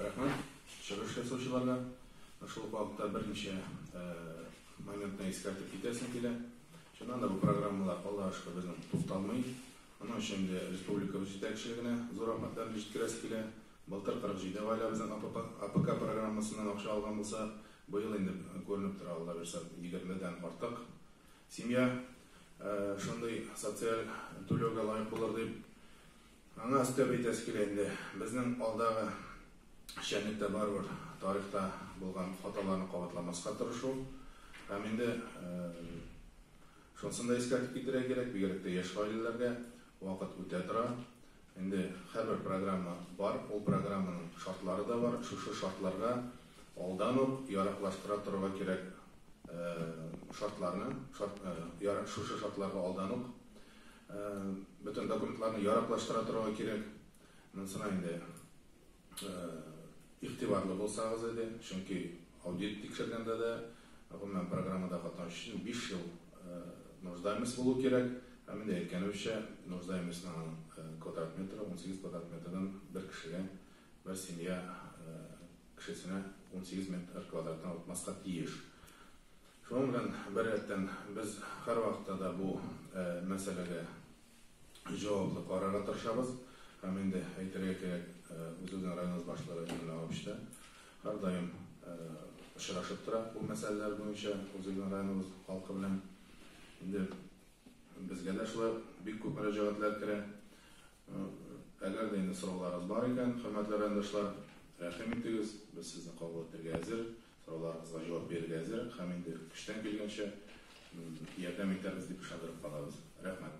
Рәхмәт чыгыш ясаучыларга. Шул ук вакытта берничә моментны искәртеп китәсем килә. Чыннан да бу программалар, Аллага шөкер, безнең тукталмый. Моның өчен инде республикабыз җитәкчелегенә зур рәхмәтләрне җиткерәсе килә. Былтыр 47 гаиләбезнең АПК программасыннан акча алган булсак, быел инде күренеп тора, Алла бирса, 20 дән артык семья шундый социаль түләүгә лаек булыр дип. Аңа өстәп әйтәсе килә инде, безнең алдагы эшчәнлектә барыбер тарихта булган хаталарны кабатламаска тырышу һәм инде шунысын да искәртеп китерергә кирәк, бигрәк тә яшь гаиләләргә, вакыт үтә тора. Инде һәрбер программа бар, ул программаның шартлары да бар, шушы шартларга алдан ук яраклаштыра торырга кирәк шартларны, шушы шартларга алдан ук Бөтен документларны яраклаштыра торырга кирәк. Монысына инде игътибарлы булсагыз иде. Чөнки аудит тикшергәндә дә, гомумән, программада катнашу өчен биш ел нуждаемость булу кирәк. Һәм инде әйткәнебезчә, нуждаемостьның аның квадрат метры унсигез квадрат метрдан бер кешегә, бер семья кешесенә унсигез метр квадратны отмаска тиеш. Шуның белән беррәттән, без һәрвакытта да бу мәсьәләгә җаваплы карарга тырышабыз һәм инде әйтергә кирәк, үзебезнең районыбыз башлыгы Эмиль Нагович та һәрдаим очрашып тора бу мәсьәләләр буенча үзебезнең районыбыз халкы белән. Инде безгә дә шулай ук бик күп мөрәҗәгатьләр керә. Әгәр дә инде сорауларыгыз бар икән, хөрмәтле райондашлар, рәхим итегез, без сезне кабул итәргә әзер. Сорауларыгызга җавап бирергә әзер һәм инде көчтән килгәнчә ярдәм итәрбез дип ышандырып калабыз. Рәхмәт.